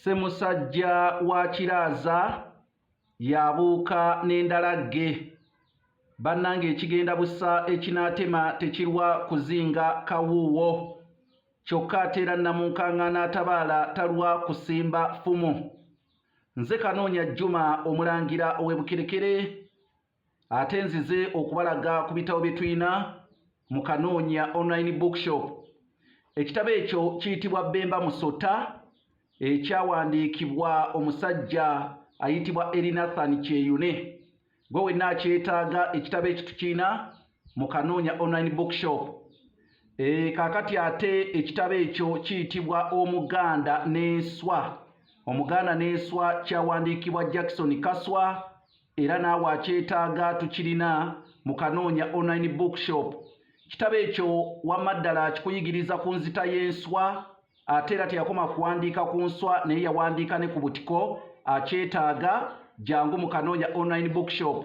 Ssemusajja wa Kiraaza yabuuka n'endalagge. Bannange ekigenda busa ekinaatema tekirwa kuzinga kawuuwo. Kyokka ate era Namunkaŋŋaana atabaala talwa kusimba ffumu. Nze Kanoonya Juma Omulangira ow'e Bukerekere. ate nzize okubalaga ku bitabo bye tulina mu kanoonya online bookshop ekitabo ekyo kiyitibwa bemba musota ekyawandiikibwa omusajja ayitibwa erinathan kyeyune gwe wenna akyetaaga ekitabo ekyo tukirina mu kanoonya online bookshop e, kakati ate ekitabo ekyo kiyitibwa omuganda n'enswa omuganda n'enswa kyawandiikibwa jackson kaswa era naawe akyetaaga tukirina mu kanoonya online bookshop kitabo ekyo wamma ddala kikuyigiriza ku nzita y'enswa ate era teyakoma kuwandiika ku nswa naye yawandiika ne ku butiko akyetaaga jangu mu kanoonya online bookshop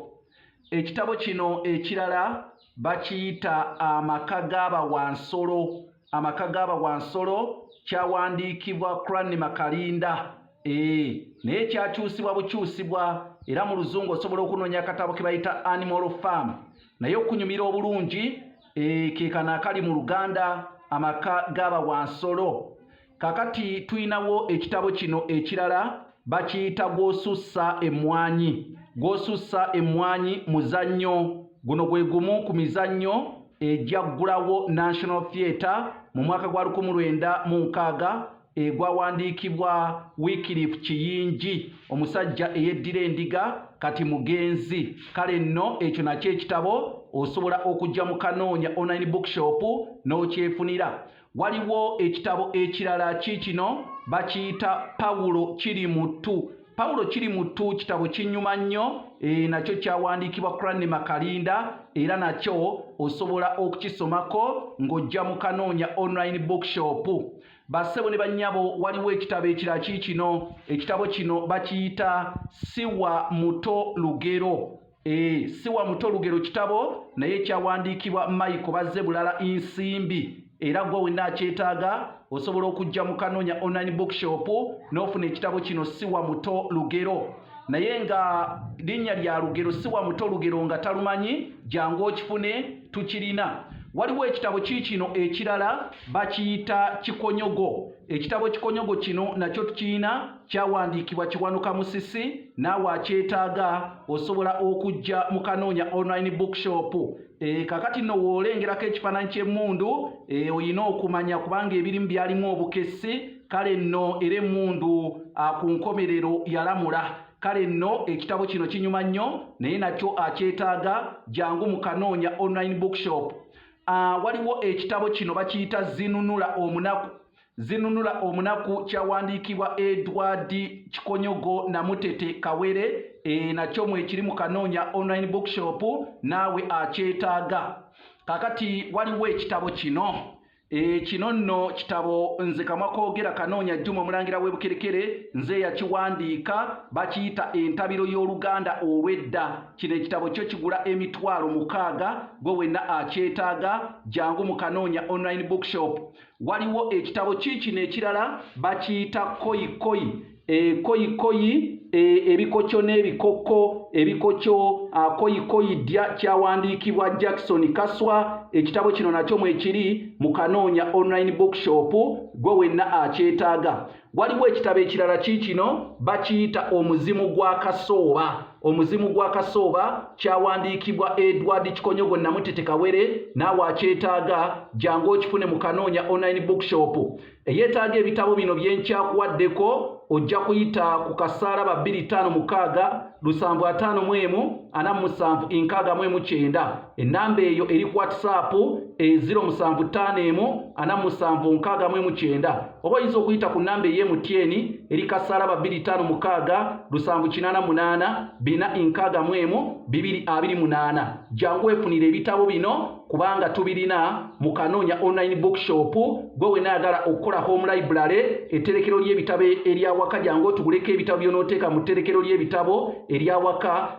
ekitabo kino ekirala bakiyita amaka g'abawansolo amaka g'aba wansolo kyawandiikibwa crani makalinda ee eh, naye kyakyusibwa bukyusibwa era mu luzungu osobola okunoonya akatabo ke bayita animal farm naye okunyumira obulungi ee eh, kekano akali mu luganda amaka g'aba wansolo kakati tulinawo ekitabo kino ekirala Bakiyita gw'osussa emmwanyi. Gw'osussa emmwanyi muzannyo. Guno gwe gumu ku mizannyo egyaggulawo National Theatre mu mwaka gwa lukumi lwenda mu nkaaga egwawandiikibwa Wycliffe Kiyingi omusajja eyeddira endiga kati mugenzi. Kale nno ekyo nakyo ekitabo osobola okujja mu Kanoonya Online Bookshop n'okyefunira. Waliwo ekitabo ekirala kiikino bakiyita Pawulo kiri mu ttu. Pawulo kiri mu ttu kitabo kinyuma nnyo e, nakyo kyawandiikibwa Cranley Makalinda era nakyo osobola okukisomako ng'ojja mu Kanoonya Online Bookshop. Bassebo ne bannyabo waliwo ekitabo ekirala kiikino. Ekitabo kino bakiyita Siwa Muto Lugero. Ee, si wa muto lugero kitabo naye kyawandiikibwa Michael bazze bulala insimbi era gwe wenna akyetaaga osobola okujja mu kanonya online bookshop n'ofuna ekitabo kino si wa muto lugero naye nga linnya lya lugero si wa muto lugero nga talumanyi jangu okifune tukirina waliwo ekitabo kiikino ekirala bakiyita kikonyogo Ekitabo ekikonyogo kino nakyo tukirina kyawandiikibwa Kiwanuka Musisi naawe akyetaaga osobola okujja mu Kanoonya online bookshop. E, eh, kakati nno woolengerako ekifaananyi ky'emmundu e, eh, olina okumanya kubanga ebirimu byalimu obukessi kale nno era emmundu ah, ku nkomerero yalamula kale nno ekitabo kino kinyuma nnyo naye nakyo akyetaaga jangu mu Kanoonya online bookshop. Uh, waliwo ekitabo kino bakiyita zinunula omunaku zinunula omunaku kyawandiikibwa edward kikonyogo namutete kawere e, nakyo mwekiri mu kanoonya online bookshop naawe akyetaaga kakati waliwo ekitabo kino e, kino nno kitabo nze kamwa koogera kanoonya juma omulangira w'ebukerekere nze yakiwandiika bakiyita entabiro y'oluganda olw'edda Kino ekitabo kyo kigula emitwalo mukaaga gwe wenna akyetaaga jangu mu Kanoonya Online Bookshop. Waliwo ekitabo kiikino ekirala bakiyita Koi Koi. E, koi Koi e, ebikokyo n'ebikokko ebikokyo a, Koi Koi ddya kyawandiikibwa Jackson Kaswa. Ekitabo kino nakyo mwekiri mu Kanoonya Online Bookshop gwe wenna akyetaaga. Waliwo ekitabo ekirala kiikino bakiyita omuzimu gwa kasooba. Omuzimu gwa kasooba kyawandiikibwa Edward Kikonyogo Namutete Kawere naawe akyetaaga jangu okifune mu Kanoonya Online Bookshop. Eyeetaaga ebitabo bino bye nkyakuwaddeko ojja kuyita ku kasaalaba 256 75 47 69. ennamba eyo eri ku whatsapp eziro musanvu ttaano emu ana musanvu nkaaga mu emu kyenda oba oyinza okuyita ku nnamba ey'emutyeeni eri kasalaba bbiri ttaano mukaaga lusanvu kinaana munaana bina nkaaga mu emu bibiri abiri munaana jangu weefunira ebitabo bino kubanga tubirina mu kanoonya online bookshop gwe wenaayagala okukola home library etterekero ly'ebitabo eryawaka jangu otuguleko ebitabo by'onooteeka mu tterekero ly'ebitabo eryawaka